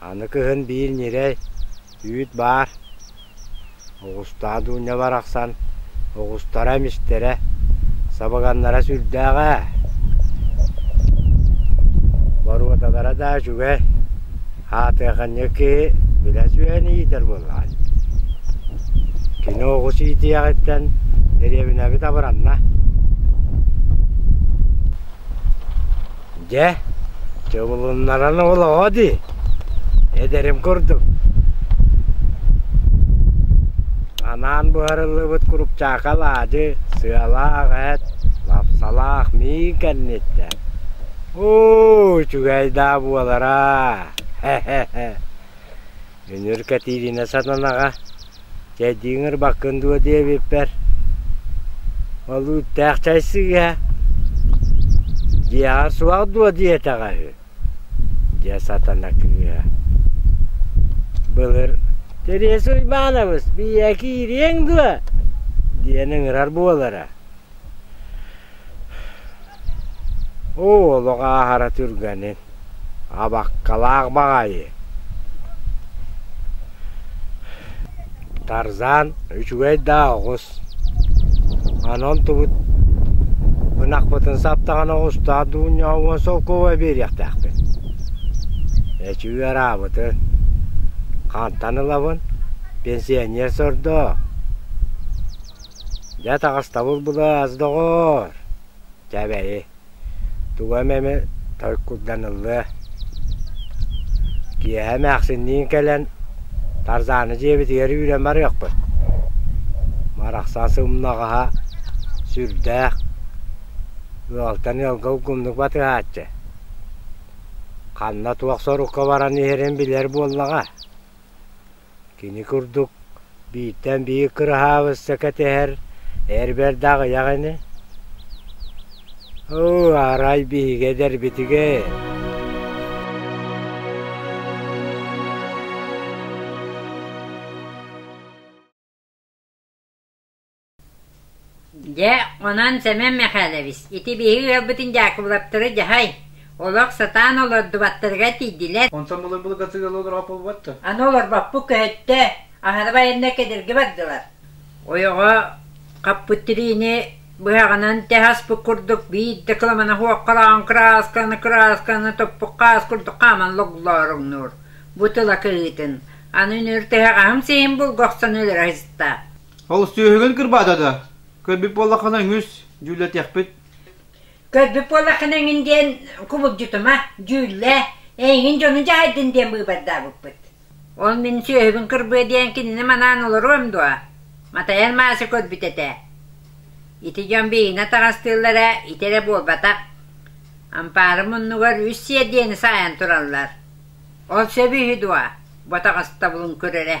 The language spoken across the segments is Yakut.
Аны кыһын биир ньирэй, үүт баар, оҕустаа Дуня барахсан оҕустара эмистэрэ, сабыганнара сүрдээх ээ, боруодалара да үчүгэй, аатыаханньа киһи билэ сүһэн иитэр буоллаҕа. Кини оҕус иитиэҕиттэн дэриэбинэбит абыранна. Дьэ, чубулуннаран олоҕо дии, эдэрим курдук. Анаан буһарыллыбыт курупчаакал аадьы, сыалаах эт, лапсалаах миин кэнниттэн. Уу, үчүгэй даа буолара! Үнүр Кэтириинэ сатанаҕа Чэ, дьиҥэр баккын дуо диэбиппэр, ол үүттээх чай сыыһа, дьиэҕэ суох дуо диэтэҕэ үһү, дьэ сатана кыыһа, былыр Тересу Уйбаанабыс, биийэ киириэҥ дуо? диэн ыҥырар буолара. Оо, олох ааһара түргэнин, абаккалаах баҕайы Тарзан үчүгэй даа оҕус аны онтубут ынахпытын саптаҕына оҕустаах дуунньаҕа уон солкуоба биэриэхтээхпин эчи ыараабытын хантан ылабын пенсионер сордоо Дьэ таҕыстабыл былаас, доҕоор! Чэ эбэйи, тугу эмэми толкуйданыллыа. Киэһэ эмээхсинниин кэлэн Тарзааны дьиэбитигэр үүрэн барыахпыт. Барахсан сымнаҕаһа сүрдээх, ыалтан ыалга угумнук батыһааччы. Ханна туох сорукка баран иһэрин билэр буоллаҕа. Кини курдук бииртэн биир кыраһаабысса кэтэһэр эр бэрдэ аҕыйах ини Оо, арай биһиги эдэрбитигэ Дьэ, онон Сэмэн Мэхээлэбис, ити биһиги ыалбытын Дьаакыбылаптары дьаһай, олох сатаан олордубаттарыгар тиийдилэр. Онтон мылын былыгатыгар олорбоппут дуо? Аны олорбоппут көһөттө, аһары байаннар кэдэрги бардылар. Ойоҕо хаппыт тириини быһаҕынан тэһаспыт курдук биирдэ кыламана хуоххалаан кыраасканы кыраасканы топпуккаас курдук хааман логлооруҥнуур. Бу тыла кыһыытын, аны үнүр тэһэҕаһым сиһин булгахсан өлөрө сыста. Олус сүөһүгүн кырбаата да, көрбүт буоллаххына үҥүс, дьүүллэтиэхпит. Көрбүт буоллаххына эҥин диэн кубулдьутума, дьүүллэ, эйигин дьону дьаһайдын диэн быыбардаабыппыт. Ол мин сүөһүбүн кырбыа диэн кинини манаан олоруом дуо? Матайар Маася көрбүт этэ. Ити дьон биһиэнэ таҕастыыллара ити эрэ буолбатах. Ампаары муннугар үс сиэр диэни саайан тураллар. Ол сөбү үһү дуо? Ботаҕастабылын көрөрө.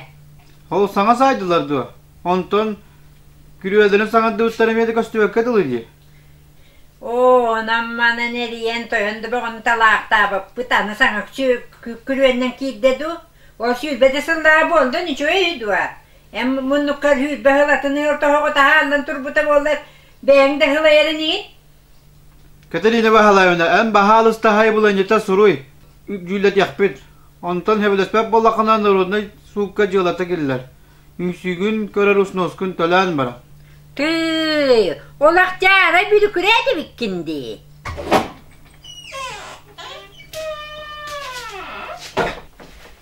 Ол саҥа саайдылар дуо? Онтон күрүөлдөнө саҥардыбыттар эмиэ да көстүбэккэ дылы дии. Оо, онон-маны нэрийэн тойон да бөҕөнталаахтаабыппыт аны саҥаччы күрүөннэн киирдэ дуу? Ол сүүрбэтэ сыллааҕы буоллун үчүгэй дуо? Эн муннуккар сүүрбэ сыл атын ыал тоһоҕо таһааллан турбута буоллар, бэйэҥ да сылайарын иһин? Кэтэриинэ Баһылаевна, эн баһаалыстаһай буланньыта суруй, дьүүллэтиэхпит. Онтон сөбүлэспэт буоллаххына, народнай суукка дьыалата киллэр. Үҥсүүгүн көрөр уснуоскун төлөөн баран. Тыы, ол Ақтаара бүлүкүрээтэ биккин дии.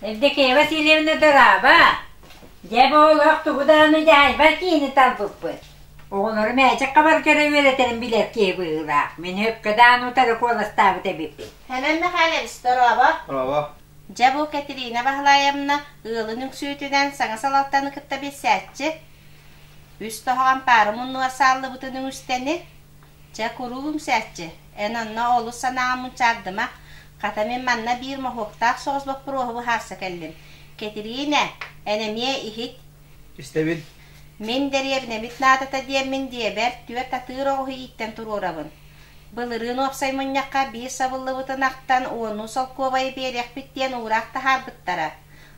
Евдокия Васильевна дораба, дьэ бу олох тугу дааны дьаайбар киини талбыппыт. Оҕолорум мээчэккэ барыта эрэ үөрэтэрин билэр киһи быһыылаах. Мин Өккөдөөн утары куоластаабыт эбиппин. Һэмэн Мэхээлэбис, дорообо. Дорообо. Дьэ бу Кэтириинэ Баһылаайамна ыалын үҥсүүтүнэн саҥа салалтаны кытта билсээччи. Үс тоһоҕон паары муннугар сааллыбытын үҥүстэни, чэ куруук үҥсээччи. Эн онно олус санааҕын мунчаардыма. Хата мин манна биир моһуоктаах соҕус боппуруоһу быһаарса кэллим. Кэтириинэ, эн эмиэ иһит. Истэбин. Мин дэриэбинэбит наадата диэммин диэбэр, түөрт атыыр оҕуһу ииттэн туруорабын. Былырыын уопсай мунньахха биир сабыллыбытын ахтан уоннуу солкуобайы биэриэхпит диэн уураах таһаарбыттара.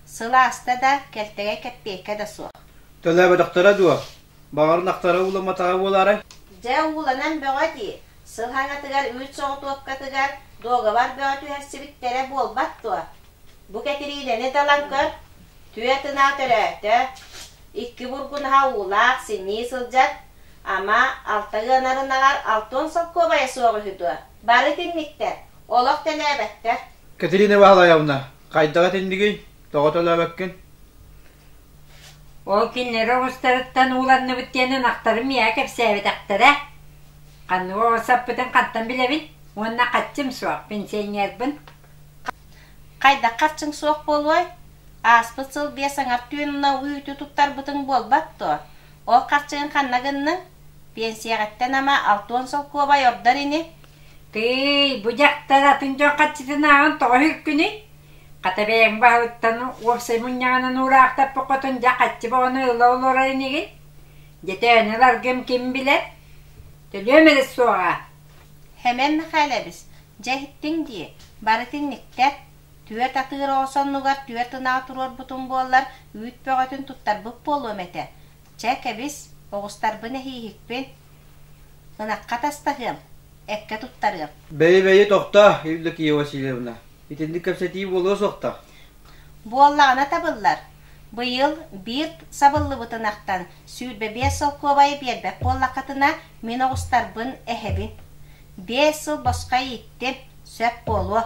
Сыл ааста да, кэлтэгэй кэппиэйкэ да суох. Төлөөбөтөхтөрө дуо? Баҕарын ахтара ууламматаҕа буолаарай? Дьэ, ууланан бөҕө дии. Сыл хаҥатыгар үүт соҕотуопкатыгар дуогабар бөҕө түһэрсибиттэрэ буолбат дуо? Бу Кэтириинэни далан көр. Түөрт ынаа төрөөтө, икки бургунаһа уулаах, синньии сылдьар, ама, алта ыанар ынаҕар алтыан солкуобайа суох үһү дуо? Бары итинниктэр, олох төлөөбөттөр. Кэтрина Ваһалаевна, хайдах итиннигин? Тоҕо төлөөбөккүн? Ол кинилэри оҕустарыттан ууланныбыт диэн ынахтарын миэхэ кэпсээбэтэхтэрэ. Ханнык оҕо саппытын хантан билэбин уонна хаччым суох пенсионербын. Хайдах харчыҥ суох буолуой? Ааспыт сыл биэс аҥар түонуна үүтү туттарбытыҥ буолбат дуо? Ол харчыгын ханна гынныҥ? Пенсияҕыттан ама алта уон солкуобай ордор ини? Тыый, бу дьахтар атын дьон харчытынааҕын тоҕо үһүккүнүй? Хата бэйэҥ баһыттан уопсай мунньаҕынан уураахтаппыккытын дьэ хаччы бөҕөнү ыла олорор инигин? Дьэтээни ыларгым ким билэр? Төлүөм эрэ суоҕа. Хэмэн Мэхээлэбис, Дьэ иһиттиҥ дии, барыт инниктэр. Түөрт атыыр оҕус оннугар түөрт ынаҕы туруорбутум буоллар, үүт бөҕөтүн туттарбыт буолуом этэ. Чэ, кэбис, оҕустарбын эһииһикпин. Ынахха атастаһыам, эккэ туттарыам. Бэйи-бэйи, тохтоо, Евдокия Васильевна. Итинник кэпсэтии буолуо суохтаах. Буоллаҕына табыллар. Быйыл Бирд сабыллыбыт ынахтан сүүрбэ биэс солкуобайы биэрбэт буоллаххытына, мин оҕустарбын эһэбин. Биэс сыл босхо ииттим, сөп буолуо.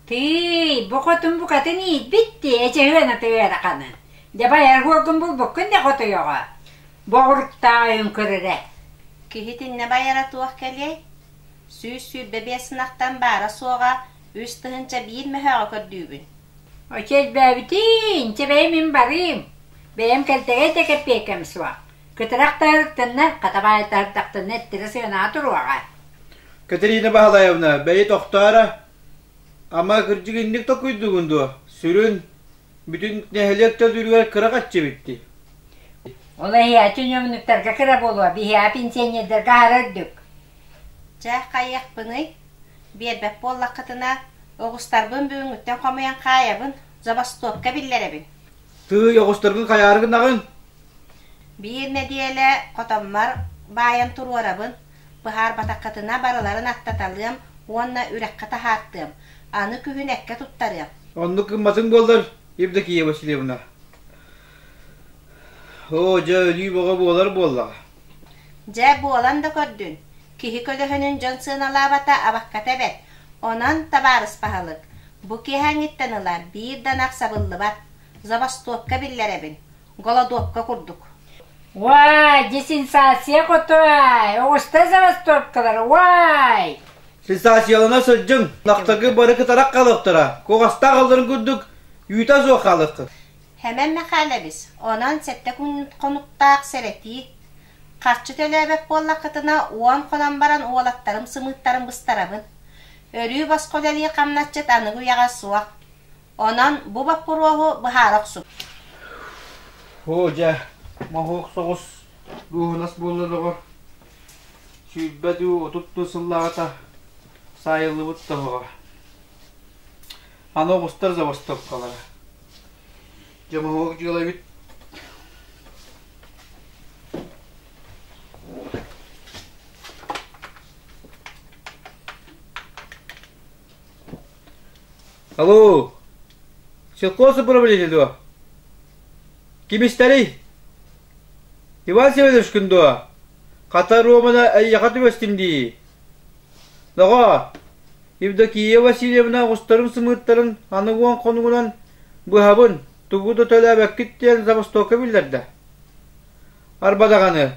Тыый, бу хотун букатын иитбит дии, эчэһүөн атыа эраханы. Дьабай аргуогун булбуккун да хотуйоҕо. Боҕуруктааҕын көрөрө. Киһитиннэ байара туох кэлиэй? Сүүс сүүрбэ биэс ынахтан баара-суоҕа үс тыһыынча биир мөһөөҕө көрдүүбүн. Очи элбээбитин, инчэ бэйэм мин барыым. Бэйэм кэлтэгэй да кэппиэкэм суох. Көтүрэхтэһэртэннэ, хатабаайдаһардахтына эттэрэ сыанаҕа туруоҕа Кэтэриинэ Баһылайовна, бэйи тохтооро. Ама, кырдьык инник токуйдугун дуо? Сүрүн, бүтүн нэһилиэк төлүүрүгэр кыра хаччыбыт дии. Ол эһиэхэ ньүөмнүктэргэ кыра буолуо, биһиэхэ пенсионердарга аһара үрдүк. Чэ, хайыахпыный? Биэрбэт буоллаххытына, оҕустарбын бүгүҥҥүттэн хомуйан хаайабын, забастовка биллэрэбин. Тыый, оҕустаргын хайаары гынаҕын? Биир нэдиэлэ хотоммор баайан туруорабын, быһаарбатаххытына барыларын аттаталыам уонна үрэххэ таһаартыам, аны күһүн эккэ туттарыам. Оннук гымматыҥ буоллар, Евдокия Васильевна. Оо, дьэ, өлүү бөҕө буолар буоллаҕа. Дьэ, буолан да көрдүн, киһи көлөһүнүн дьон сыаналаабата абакката эбэт, онон, табаарыспаһалык, бу киэһээҥҥиттэн ыла биир да ынах сабыллыбат, забастовка биллэрэбин, голодопка курдук. Уай, десенсация хотуай, оҕустай забастовкалар, уай! Сенсациялана сылдьыҥ, ынахтаргы бары кытарах хаалыахтара, куҕастаах алларын курдук, үүтэ суох хаалыаххыт. Сэмэн Мэхээлэбис, онон сэттэ күн хонуктаах сэрэтии. Харчы төлөөбөт буоллаххытына, уон хонон баран уолаттарым-сымыыттарым быстарабын. Өрүү босхо үлэлии хамначчыт аныгы үйэҕэ суох. Онон бу боппуруоһу быһаара охсубут. Оо, дьэ, моһуок соҕус дууһунас буолла доҕор. Сүүрбэ дуу, отут дуу сыллааҕыта саайыллыбыт тоһоҕо. Аны оҕустар забастовкалара. Дьомоһуок дьыалабыт Алло, силкос управителю. Ким истэри? Иван Семенович күндуа, хата Романа эйяха түместим дии. Доҕоо, Евдокия Васильевна оҕустарын сымыыттарын аны уон хонугунан быһабын, тугу да төлөөбөккүт диэн забастовка биллэрдэ. Арба даҕаны,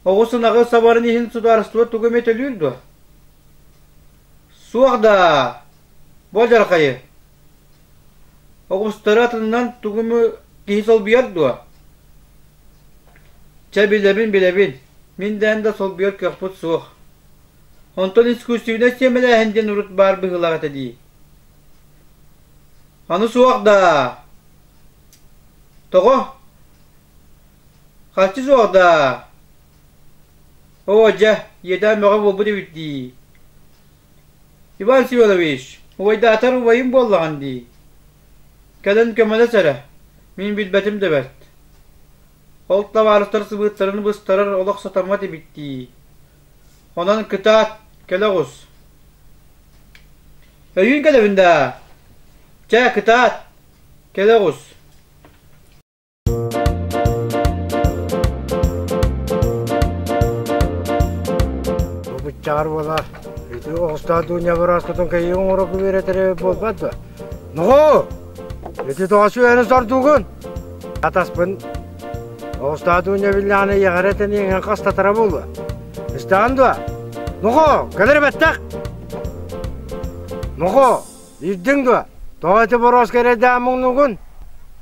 оҕус ынаҕы сабарын иһин судаарыстыба тугу эмэ төлүүр дуо? Суох даа, бу адьархайы Оҕустары атынан тугу эмэ киһи солбуйар дуо? Чэ, билэбин, билэбин, мин дээн да солбуйар кыахпыт суох. Онтон искусственнай сиэмэлээһин диэн урут баар быһыылаах этэ дии. Аны суох даа? Тоҕо? Харчы суох даа? Оо, дьэ, ийэтэ мөҕө буолбут эбит дии. Иван Семенович, убайдаатар убайым буоллаҕын дии. Кэлэн көмөлөс эрэ, мин билбэтим да бэрт. Ол табаарыстар сыбыыттарын быстарар олох сатаммат эбит дии. Онон кытаат, кэлэ оҕус. Өйүүн кэлэбин даа? Чэ, кытаат, кэлэ оҕус. Бу быччаҕар буола ити оҕустаах дууньа быраскутун кэйии оҥороргу үөрэтэрэ буолбат дуо? Нохоо! Ити тоҕачу үөнү сордугун! Атаспын оҕустаах дууньа биллэҕинэ ийэҕэрэ тэниэҥэн хастатара буолуо. Истэҕин дуо? Нохоо! Кэлэр бэттэх! Нохоо! Билдиҥ дуо, тоҕо ити борооска эрэйдээн муҥнугун?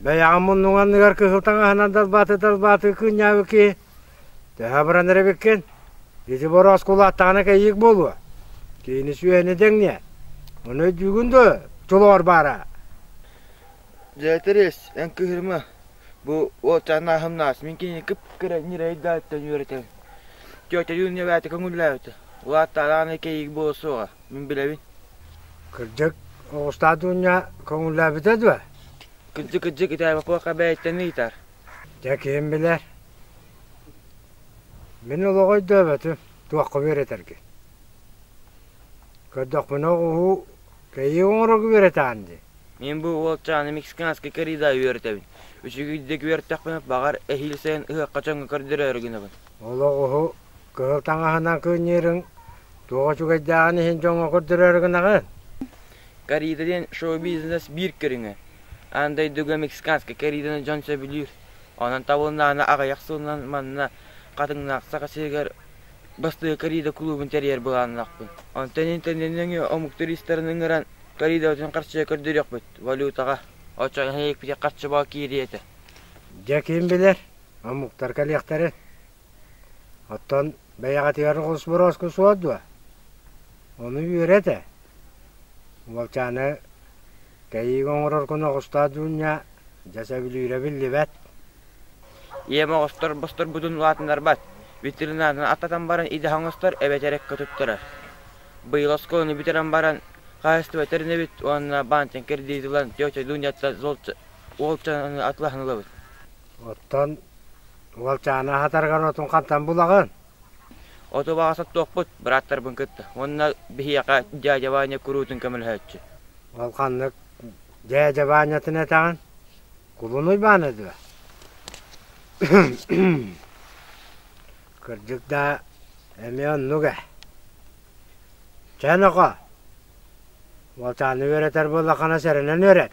Бэйэҕин муннуҥ анныгар кыһыл таҥаһынан далбаатыы-далбаатыы кыынньаабыт киһи. Төһө баран эрэ эбиккин, ити борооска улааттаҕына кэйиик буолуо. Киһини сүөһүнү дэҥниэ. Ону өйдүүгүн дуо, чулуур баара?» «Дьэ, интэриэс, эн кыыһырма. Бу уолчаан ааһымнаас, мин кинини кып-кыра ньирэйдээтэн үөрэтэн, тетя Юня эбээтэ көҥүллээбитэ. Улааттаҕына кэйиик буола суоҕа. Мин билэбин. Кырдьык, оҕустаах дуунньа көҥүллээбитэ дуо? Кырдьык-кырдьык итээ Бопуоха бэйэттэн ыйытар. Дьэ, ким билэр. Мин олоҕу өйдөөбөтүм, туохха үөрэтэргин. Көрдөхпүнэ оҕуһу кэйии оҥорорго үөрэтэҕин дии. Мин бу уолчааны мексиканскай корида үөрэтэбин. Үчүгүйдик үөрэттэхпинэ, баҕар, эһиил сайын ыһыахха чоҥго көрдөрөөрү гынабын. Олоҕуһу Кыһыл таҥаһынан кыынньыырыҥ туох үчүгэйдээҕин иһин дьоҥҥо көрдөрөөрү гынаҕын? Карита диэн шоу-бизнес биир көрүҥэ. Аан дойдуга мексиканскай каританы дьон сөбүлүүр. Онон табылыннаана аҕыйах сылынан манна Хатыҥнаах Саха сиригэр бастакы Карита клубун тэрийэр былааннаахпын. Онтон ити нөҥүө омук туристарын ыҥыран Каритабытын харчыга көрдөрүөхпүт. Валютаҕа. Оччоҕо нэһилиэкпитигэр харчы баал киириэ этэ. Дьэ ким билэр, омуктар кэлиэхтэрин. Оттон бэйэҕитигэр хос борооска суор дуо? Ону үөрэ этэ. Уолчааны тэйиигэ оҥорор куна оҕустаах дьуунньа дьэ сөбүлүүрэ биллибэт. Ийэм оҕустар босторбутун улаатыннарбат, витринаны аттатан баран идэх оҥостор эбэтэр эккэ туттарар. Быйыл оскуоланы бүтэрэн баран хаһаайыстыба тэринэбит уонна баантан кредит ылан тетя Дуняттан уолчананы атылаһан ылабыт. Оттон уолчааны аһатаргар отун хантан булаҕын? Оту баҕа соттуохпут, бырааттарбын кытта. Уонна биһиэхэ дядя Ваня куруутун көмөлөһөөччү. Ол ханнык дядя Ванятын этэҕин? Кулун Уйбааны дуо? Кырдьык да, эмиэ оннук ээ. Чэ, нохоо, уолчааны үөрэтэр буоллаххына сэрэнэн үөрэт.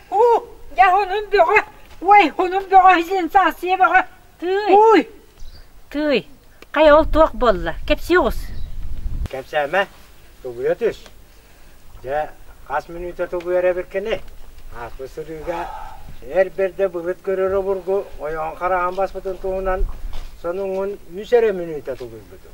Уу, дьэ хонун бөҕө, уой, хонун бөҕө сенсация бөҕө, тыый. Уй! Тыый, хайа ол туох буолла? Кэпсиэҕус. Кэпсээмэ, тугуйа түс. Дьэ, хас мүнүүтэ тугуйар эбиркини? Ааспыт сырыыга эр бэрдэ былыт көрөр обургу ойоҕун хараҕын баспытын туһунан сонуҥун үс эрэ мүнүүтэ тулуйбутум.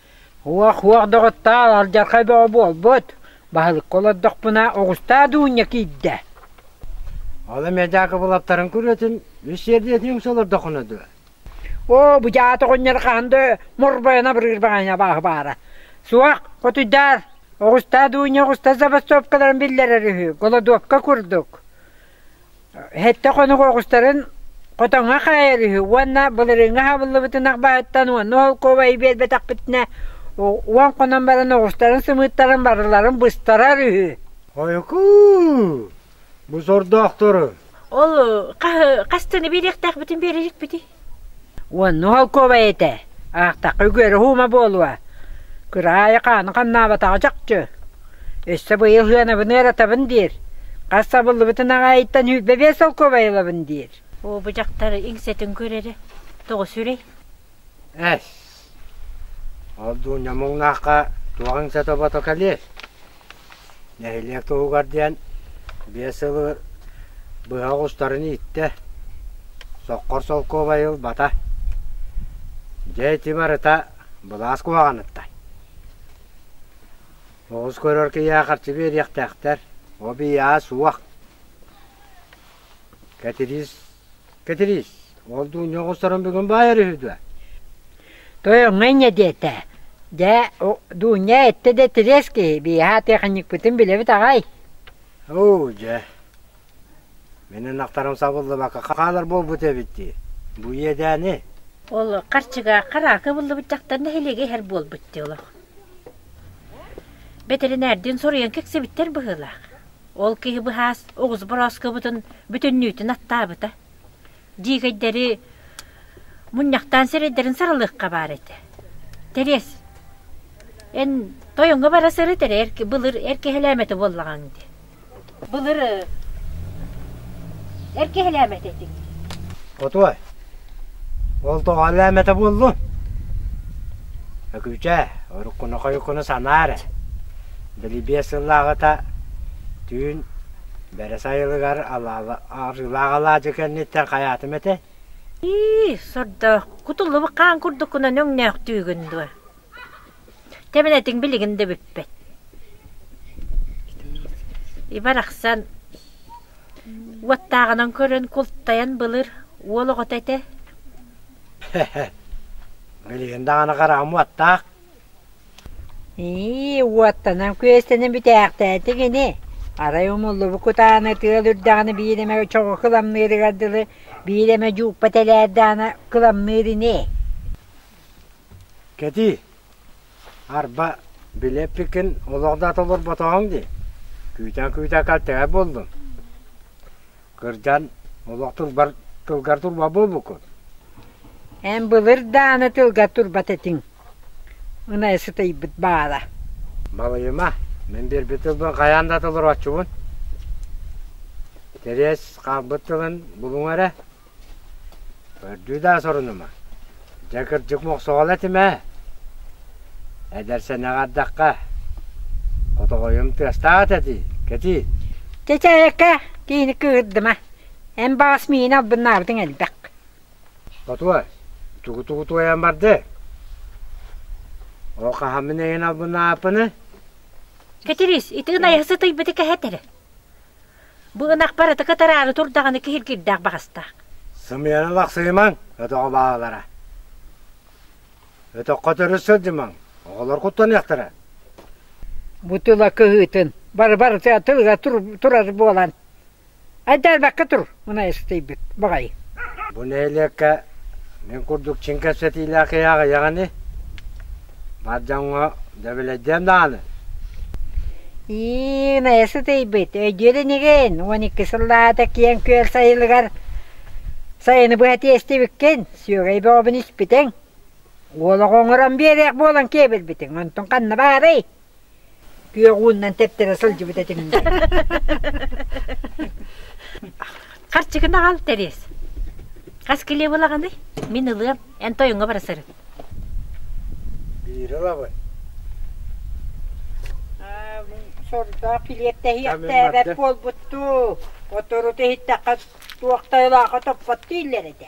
Уох-уох доҕоттоор, алдьархай бөҕө буолбут, баһылыкка олордохпуна оҕустаа дуунньа киирдэ Ол эмиэ Дьаакыбылаптарын күрүөтүн үссэрдиэтин үҥсэ олордоххуна дуо? Оо, бу дьаат оҕонньор хаһан да морбойон абырыыр баҕайыны абааһы баара. Суох, хотуйдаар, оҕустаа дуунньа оҕуста забастовкаларын биллэрэр үһү, голодовка курдук. Сэттэ хонук оҕустарын хотоҥҥо хаайар үһү уонна былырыыҥҥы аһабыллыбытын ахбаһыттан уонна холкуобайы биэрбэтэхпитинэ уон хонон баран оҕустарын сымыыттарын барыларын быстарар үһү. Хойукуу, бу сордоохтору. Ол хаһы хастаны биэриэхтээхпитин биэрэжикпитий? Уонна Уһолкуобай этэ: «Аахтахха үгүөрү һуума буолуо, кыраайы хааны ханнаабатаҕа чахчы, өссө быйыл сыанабын ыаратабын диир, хас сабыллыбытын аҕаайыттан сүүрбэ биэс солкуобай ылабын» диир. «Оо, бу дьахтар иҥсэтин көрөрө тоҕо сүрэй?» «Эс, Ордуня муҥнаахха туох иҥсэ тобото кэлиэй? Нэһилиэк туһугар диэн биэс сылы быһа оҕустарын ииттэ. Соккор солкуобай ылбата. Дьэ ити барыта былаас куһаҕаныттан. Оҕус көрөр киһиэхэ харчы биэриэхтээхтэр. О бийаа суох. Кэтириис Кэтириис, ол дуу ньоҕосторун бүгүн баайар үһү дуо? Тоyоҥҥо инньэ диэтэ. Дьэ, Дуунньа эттэ да тириэс киһи, биэһээ тиэхиньикпитин билэбит аҕай. Оо, дьэ. Мэнэн ахтарым сабыллыбакка хаалар буолбут эбит дии. Бу иэдээни? Ол харчыга хараакы буллубут дьахтар нэһилиэгэ иһэр буолбут дии олох. Бэтэринээрдиин соруйан кэксэбиттэр быһыылаах. Ол киһи быһаас оҕус борооскобутун бүтүннүүтүн аттаабыта. Диигэйдэри мунньахтаан сирэйдэрин сарылыахха баар этэ. Тэриэс, эн тойоҥҥо бара сырыт эрэ эр, былыр эр киһилээмэтэ буоллаҕаҥ дии. Былыр эр киһилээмэтэ этиҥ. Хотуой, Ол доҕоллоо эмэтэ буоллун? Өкүүчээ, уруккуна-хойуккуну санаа эрэ. Били биэс сыллааҕыта түүн Бэрэс Айылыгар арыылаах алаадьы кэнниттэн хайаатым этэ. Ии, сордоох, кутуллубут хаан курдуккунан өҥнөөхтүүгүн дуо Тэбэнэтиҥ билигин да бүппэт Ибарахсан уоттааҕынан көрөн култайан былыр уол оҕото этэ Билигин даҕаны хараҕым уоттаах Ии, уоттанан күөстэнэн бүтээхтээтиҥ ини Арай умуллубут кутааны тыал үрдэҕинэ биир эмэ чоҕу кыламныырыгар дылы биир эмэ дьуукпа тэлээрдэҕинэ кыламныыр ини Кэтии, арба, били эппиккин, олох да толорботоҕуҥ дии, күүтэн-күүтэн кэлтэҕэй буоллун. Кырдьан, олох турбар, тылгар турба буолбуккун. Эн былыр дааны тылгар турбат этиҥ, ынайа сытыйбыт баара. Балыйыма, мин биэрбит тылбын хайаан да толорооччубун. Тэриэс хаалбыт тылын булуҥ эрэ. Көрдүү-даа сорунума. Дьэ, кырдьык мохсоҕол этим ээ. Эдэр сэнэх ардахха. Хотоҕойум тыастаах этэ кэтии. Чэчээкэ, киһини кыырдыма. Эн баҕас миини албыннаабытыҥ элбэх. Хотуой, тугу-тугу туойан барды? Ол хаһаммын эйин албыннааппыны? Кэтириис, ити ынайа сытыйбыты кэһэтэрэ. Бу ынахпар ытыка тараары тур даҕаны киһиргирдээх баҕастаах. Сымыйаны лахсыйымаҥ, өтөҕө бааллара. Өтөххө төрүс сылдьымаҥ, оҕолор куттаныахтара. Бу тыла кыһыытын бары-барыта тылга турар буолан, айдаарбакка тур, мунай ыстыйбыт баҕай. Бу нэһилиэккэ мин курдук чиҥ кэпсэтиилээх киһи аҕыйаҕа ини? Бар дьоҥҥо дөбүлэйдиэм даҕаны. Ии, Мэйэсэ тэйбит, өйдүөр инигин? Уон икки сыллаата киэҥ күөл сайылыгар сайыны быһа тиэстибиккин, сүөгэй бөҕөбүн испитиҥ. Уол оҕо оҥорон биэриэх буолан киэбирбитиҥ, онтун ханна баарый? Күөх ууннан тэптэрэ сылдьыбыт этим Харчыгын аҕал тэриэс. Хас килиэ булаҕыный? Мин ылыам. Эн тойуҥа бара сырын. Биир ылабын. Сордоох килиэttäһиэхтээбэт буолбуттуу. Отору иһиттэххэ туох тайылааха топпоттуу иллэр этэ.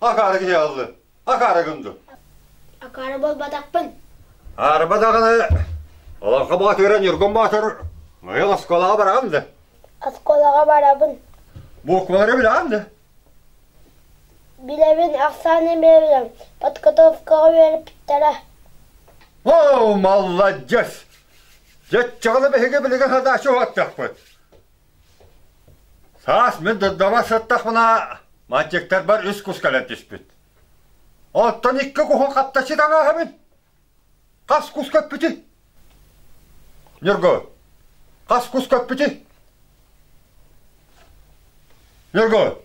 Акаары киһи ааллы. Акаары гынды. Акаары буолбатахпын. Арба даҕаны олоххо баатыыра Ньургун Боотур мыйыл оскуолаҕа бараҕын да? Оскуолаҕа барабын. Буквалары билэҕин да? Билэбин, ахсааны билэбин. Подготовкаҕа үөрэппиттэрэ. Оо, малладьыс! Дьэччэҕинэ биһиги билиги хадаашы уһаттахпыт. Саас мин дырдама сыттахпына, мальчиктарбар үс кус кэлэн түспүт. Оттон икки куһу хатта ситалааһабын. Хас кус көппүтүй? Ньургу, хас кус көппүтүй? Ньургу,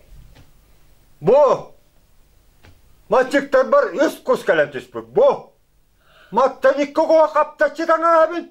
бу мальчиктарбар үс кус кэлэн түспүт. Бу. Маттан икки куһу хапта ситалааһабын.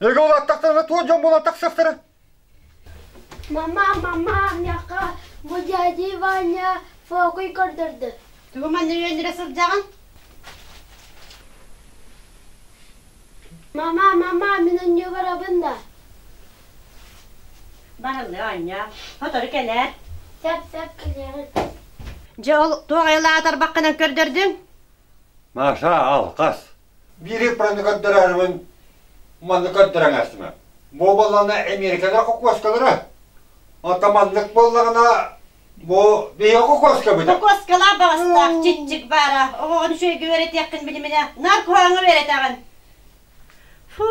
Эгэ улаттахтарына туох дьон буолан тахсыахтара? Мама, мама, няха, бу дядя Ваня фокуй көрдөрдө. Тугу манна үөнүрэ сылдьаҕын? Мама, мама, мин үннүү барабын да. Барылы Аня, хотору кэлээр. Сап-сап кэлээрин. Дьэ ол туох айылаатар баққынан көрдөрдүҥ? Маша, алқас. Биири праны көрдөрөөрүбүн маннык көрдөрөн ээстимэ. Бу буоллаҕына Эмиэрикэлэр хокуоскалара. Оттон маннык буоллаҕына бу биһиги хокуоскабыт. Хокуоскалаах баҕастаах чиччик баара. Оҕоҕун үчүгэйгэ үөрэтиэххин билиминэ наркоһааҥҥа үөрэтэҕин. Фу,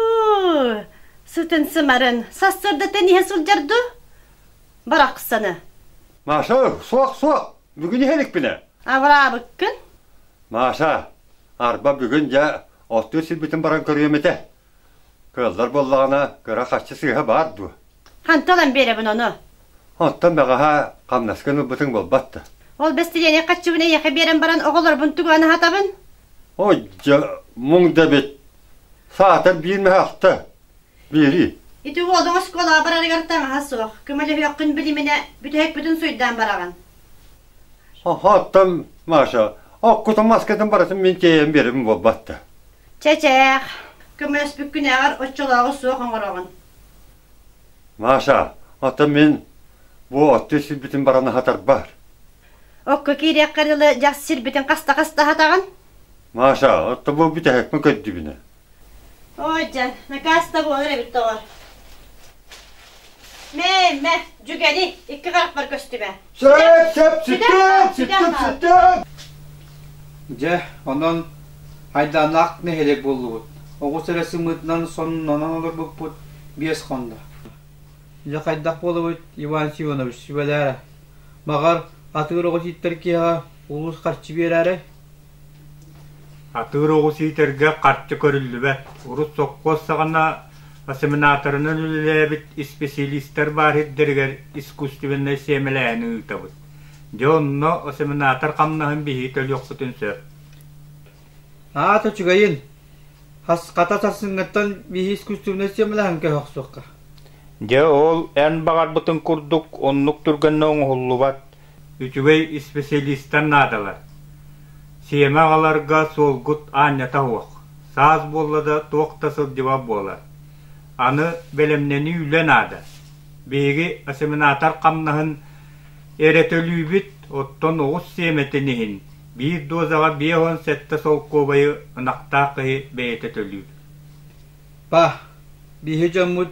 сытын сымарын сарсыардаттан иһэ сылдьар дуу? Барахсаны. Маша, суох, суох. Бүгүн иһэ иликпинэ. Абыраабыккын. Маша, арба бүгүн дьэ оттуу сирбитин баран көрүөм этэ. Кыаллар буоллаҕына кыра хаччы сыыһа баар дуо? Ханта ылан биэрэбин ону? Оттон бэҕэһээ хамнаскын ылбытыҥ буолбат да. Ол бэстилиэни хаччыбын эйиэхэ биэрэн баран оҕолорбун туган аһатабын? Ой дьэ, муҥ да эбит. Саатар биир мөһөхтө. Биэрии. Ити уолуҥ оскуолаҕа барарыгар таҥаһа суох, көмөлөһүөххүн билиминэ, бүтэһикпитин суйдаан бараҕын. Оттон Маша, оккутун маскатын барытын мин тиэйэн биэрэбин буолбат да. Чэчээх, көмөлөспүккүнээҕэр оччолооҕу суох оҥороҕун. Маша, оттон мин бу отту сирбитин баран аһатарбар. Окко киириэххэ дылы дьах сирбитин хаста-хаста аһатаҕын? Маша, отто бу бүтэһикпин көрдүбүнэ. Оодьа, накааста буолар эбит доҕор. Мээмэ, Дьүгэни, икки харахпар көстүбэ. Сөп, сөп, сүттэн, сүттэн, сүттэн. Дьэ, онон айдааннаах нэһилиэк буоллубут. Оҕус эрэ сымыытынан соннунан олорбуппут биэс хонно. Дьэ, хайдах буолабыт, Иван Симонович, сүбэлээрэ. Маҕар, атыыр оҕо тииттэр киһиэхэ улуус харчы биэрээри? Атыыр оҕу сийтэргэ харчы көрүллүбэт, урут сопхуос саҕана осеменаторынан үлэлээбит исписэлиистэр баар сирдэригэр искусственнай сиэмэлээһини ыытабыт. Дьэ онно осеменатор хамнаһын биһии төлүөхпүтүн сөп. Аат үчүгэйин. Хасхата сарсыҥҥыттан биһи искусственнай сиэмэлэһэн көһө охсуохха. Дьэ ол эн баҕарбытыҥ курдук оннук түргэннэ оҥоһуллубат. үчүгэй исписэлиистэр наадалар. Сиэмэ аҕаларга суолгут аанньата суох, саас буолла да туох да сылдьыба буолар. Аны бэлэмнэнии үлэ наада. Биһиги осеменатор хамнаһын эрэ төлүүбүт, оттон оҕус сиэмэтин иһин биир дозаҕа биэс уон сэттэ солкуобайы ынахтаах киһи бэйэтэ төлүүр. Па, биһи дьоммут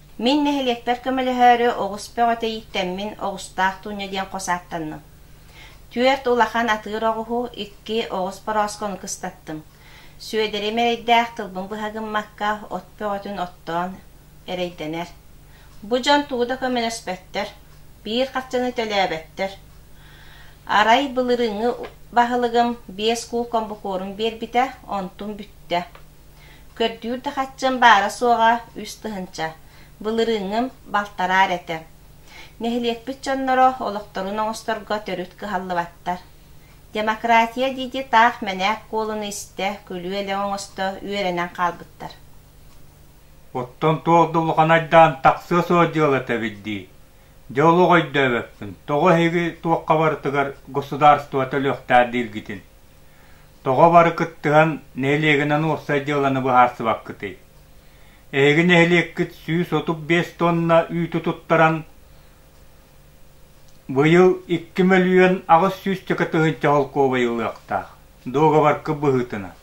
Мин нэһилиэкпэр көмөлөһөөрү оҕус бөҕө тэйиттэммин Оҕустаах Туунньа диэн хос ааттанным. Түөрт улахан атыыр оҕуһу, икки оҕус борооскону кыстаттым. Сүөдэри эрэйдээх тылбын быһа гыммакка, от бөҕөтүн оттоон эрэйдэнэр. Бу дьон тугу да көмөлөспөттөр, биир харчыны төлөөбөттөр. Арай былырыыҥҥы баһылыгым биэс куул комбукуорум биэрбитэ, онтум бүттэ. Көрдүүр да хаччым баара-суоҕа үс тыһыынча, былырыыҥҥым балтараар этэ. Нэһилиэкпит дьонноро олохторун оҥосторго төрүт кыһаллыбаттар. Демократия диэки таах мэнээк куолуну истэ, күлүү-элэҥ оҥосто үөрэнэн хаалбыттар Оттон туох да улахан айдаан тахсыа суох дьыала этэбит дии. Дьэ олох өйдөөбөппүн, тоҕо эһиги туохха барытыгар государство төлүөхтээх дииргитин. Тоҕо бары кыттыһан нэһилиэгинэн уопсай дьыаланы быһаарсыбаккытый? Эһиги нэһилиэккит сүүс отут биэс тонна үүтү туттаран быйыл икки мөлүйүөн аҕыс сүүсчэкэ тыһыынча холкуобай ылыахтаах дуогабаркы быһыытынан.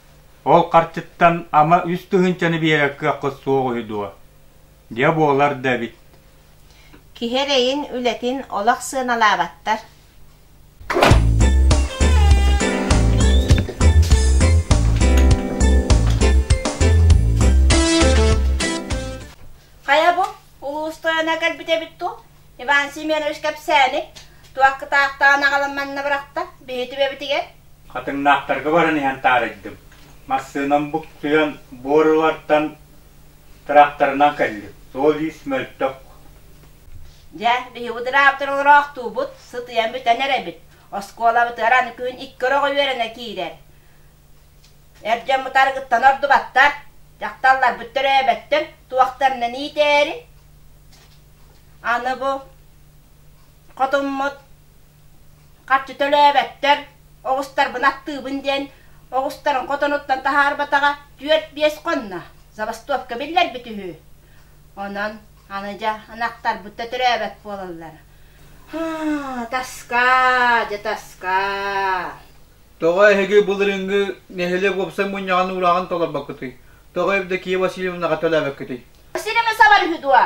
Ол харчыттан ама үс тыһыынчаны биэрэр кыаххыт суох үһү дуо? Дьэ буолар да эбит. Киһи эрэйин, үлэтин олох сыаналаабаттар. Хайа бу? Улуус тойоно кэлбит эбит ту? Иван Семенович кэпсээни туақкытаахтаан аҕалан манна бырахта, биһи түбэбитигэр. Хатыҥнаахтарга баран иһэн таарыйдым. Массыынам буктуйан буорулартан Тыраптарынан кэллим. Суол-иис мөлтөх. Дьэ, биһиги тыраптар олороохтуубут, сытыйан бүтэн эрэбит. Оскуолабытыгар аны күн икки өрөҕө үөрэнэ киирэр. Эр дьон бытарыгыттан ордубаттар. Дьахталларбыт төрөөбөттөн туохтарынан иитээри. Аны бу хотуммут Харчы төлөөбөттөр, оҕустарбын аттыыбын диэн оҕустарын хотонуттан таһаарбатаҕа түөрт-биэс хонно, забастовка биллэрбит үһү. Онон аны дьэ ынахтарбыт да төрөөбөт буолаллар. Таска, дьэ таска. Тоҕо эһиги былырыыҥҥы нэһилиэк уопсай мунньаҕын уураҕын толорбоккутуй? Тоҕо Евдокия Васильевнаҕа төлөөбөккүтүй? Сирэми сабар үһү дуо?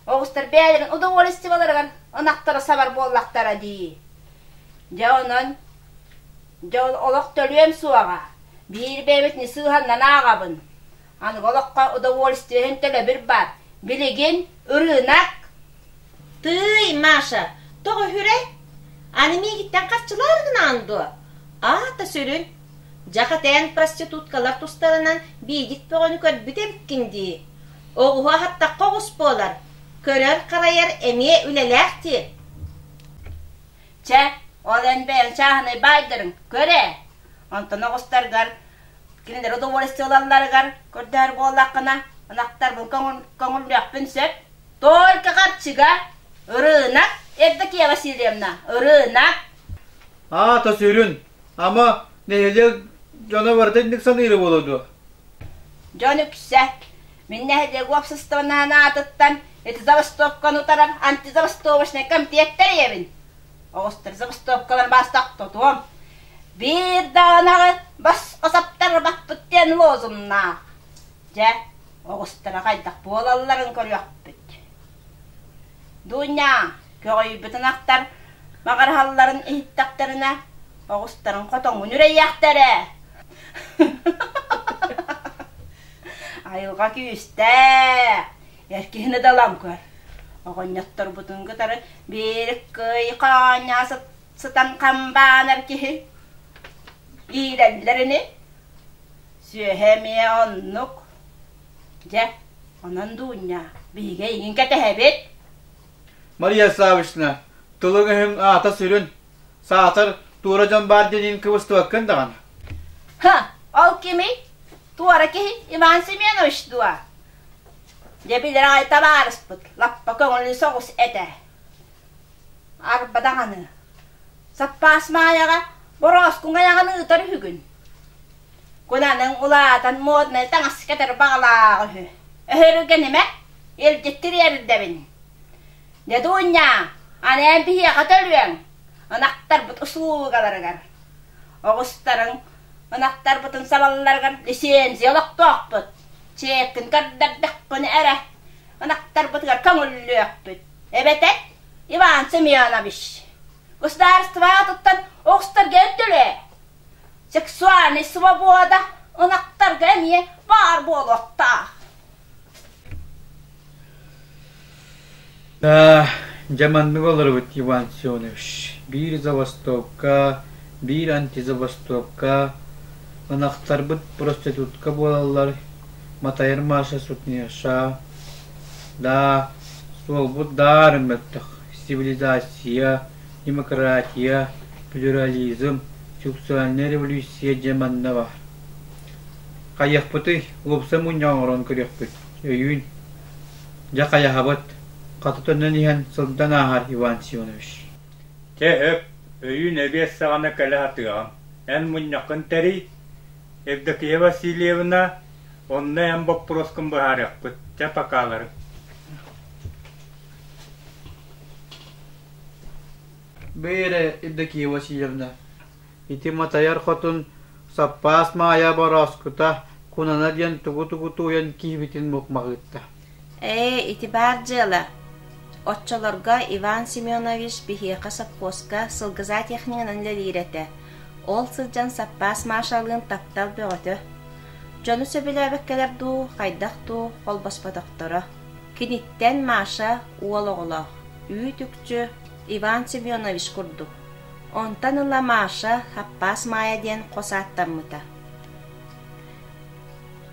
Оҕустар бэйэлэрин удовольствиеларыгар ынахтары сабар буоллахтара дии. Дьэ онон дьэ ол олох төлүөм суоҕа. Биир бэйэбит не сыыһаннан ааҕабын. Аныгы олоххо удовольствиеһын төлөбүр баар. Билигин ырыынак. Тыый, Маша, тоҕо үһүрэ? Аны миигиттэн харчылаары гынаҕын дуо? Аата сүрүн. Дьахэтээн проституткалар тустарынан биидик бөҕөнү көрбүт эбиккин дии. Оҕуһу аһаттахха оҕус буолар, көрөр-харайар эмиэ үлэлээх дии. Чэ, ол эн бэйэҥ чааһынай баайдарыҥ, көр ээ. Онтон оҕустаргар кинилэри удовольствие ылалларыгар көрдөһөр буоллаххына, ынахтарбын көҥүл көҥүллүөхпүн сөп. Только хапчыга, ырыынак, Евдокия Васильевна, ырыынак. Аата сүрүн, ама нэһилиэк дьоно барыта инник саныыра буолуо дуо? Дьон үксэ, мин нэһилиэк уопсастыбаннаһын аатыттан ити забастовканы утарар антизабастовочнай комплект тэрийэбин. Оҕустар забастовкаларын бастак тотуом. Биир даҕанаҕы басқа саптар баппыт диэн лозуннаах. Дьэ, оҕустара хайдах буолалларын көрүөхпүт. Дуунньаа, көҕүйбүтүн ахтар маҕарыһалларын иһиттэхтэринэ, оҕустарын хотоҥҥун үрэйиэхтэрэ. Айылҕа күүстээх, эр киһини далан көр. Оҕонньотторбутун кытары биир кый хаанньаа сытан хамбаанар киһи иирэллэрини сүөһэ эмиэ оннук дьэ онон дуунньа биһиги эйигин кэтэһэбит Мария Славочна тылыҥ өһүҥ аата сүрүн саатар туора дьон баар диэниин кыбыстыбаккын даҕаны ха ол кимий туора киһи иван семенович дуо дьэ билэр аайта баарыспыт лаппа көҥүлү соҕус этэ Арба даҕаны, саппаас Маайаҕа борооскуҥ айаҕын ыытар үһүгүн. Куланыҥ улаатан моднай таҥас кэтэр баҕалаах үһү. Өһөрүгэн имэ, илдьиттир эрдэбин. Дедунья, анээн биһиэхэ төлүөҥ, ынахтарбыт усулугаларыгар. Оҕустарыҥ ынахтарбытын салалларыгар лиссиэнсийэ олохтоохпут. Чиэккин көрдөрдөххүнэ эрэ, ынахтарбытыгар көҥүллүөхпүт. Эбэтэр Иван Семенович, государствоҕа туттан охсторго өттүлээ. Сексуальнай свобода ынахтарга эмиэ баар буолуохтаах. Да, дьэ маннык олоробут Иван Семенович. Биир забастовка, биир антизабастовка, ынахтарбыт проститутка буолаллар, Матайыр Маша сутнеша, Да, суолбут даарыҥ мөлтөх, цивилизация, демократия, плюрализм, сексуальнай революция дьэ манна баар. Хайыахпытый, уопса мунньа оҥорон көрүөхпүт, өйүүн. Дьэ хайаһабыт, хата төннөн иһэн сылдан ааһар Иван Сионович. Чэ өп, өйүүн эбиэс саҕана кэлэ сатыаҕым. Эн мунньаххын тэрий. Евдокия Васильевна Онно эн боппуруоскун быһаарыахпыт, дьэ покалары Бээрэ, Евдокия Васильевна, ити Матайар хотун Саппаас Маайа борооскута Кунана диэн тугу-тугу тууйан киһибитин мукмаҕыытта Ээ, ити баар дьыала. Оччолорго Иван Семенович биһиэхэ сопхуоска сылгыза технигынан үлэлиир этэ, ол сылдьан саппаас Машалыын таптал бөҕөтө. Дьону сөбүлээбэккэлэр дуу, хайдах дуу холбоспотохторо. Киниттэн Маша уол оҕолоох, үүт-үкчү Иван Семенович курдук. Онтон ыла Маша Хаппаас Маайа диэн хос ааттаммыта.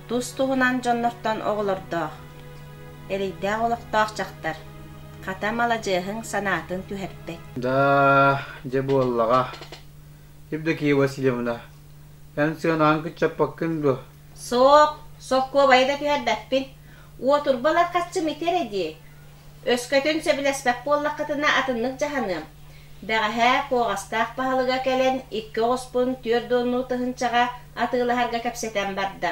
Тус-туһунан дьоннортон оҕолордоох, эрэйдээх олохтоох дьахтар, хата маладьыаһыҥ санаатын түһэрбэт. Да, дьэ буоллаҕа. Евдокия Васильевна, эн сыанаҕын кыччаппаккын дуо? Суох, солкуобайы да түһэрбэппин. Уотурба ларкаччым ити эрэ дии, Өскөтүн сөбүлэспэт буоллаххытына атыннык дьаһаныам. Бэҕэһээ Куоҕастаах баһылыга кэлэн икки оҕуспун түөрт уоннуу тыһыынчаҕа атыылаһарга кэпсэтэн барда.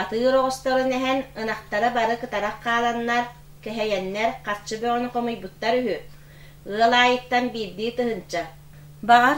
Атыыр оҕосторун эһэн ынахтара бары кытарах хааланнар, кэһэйэннэр харчы бөҕөнү хомуйбуттар үһү. Ыал аайыттан биирдии тыһыынча. Баҕар,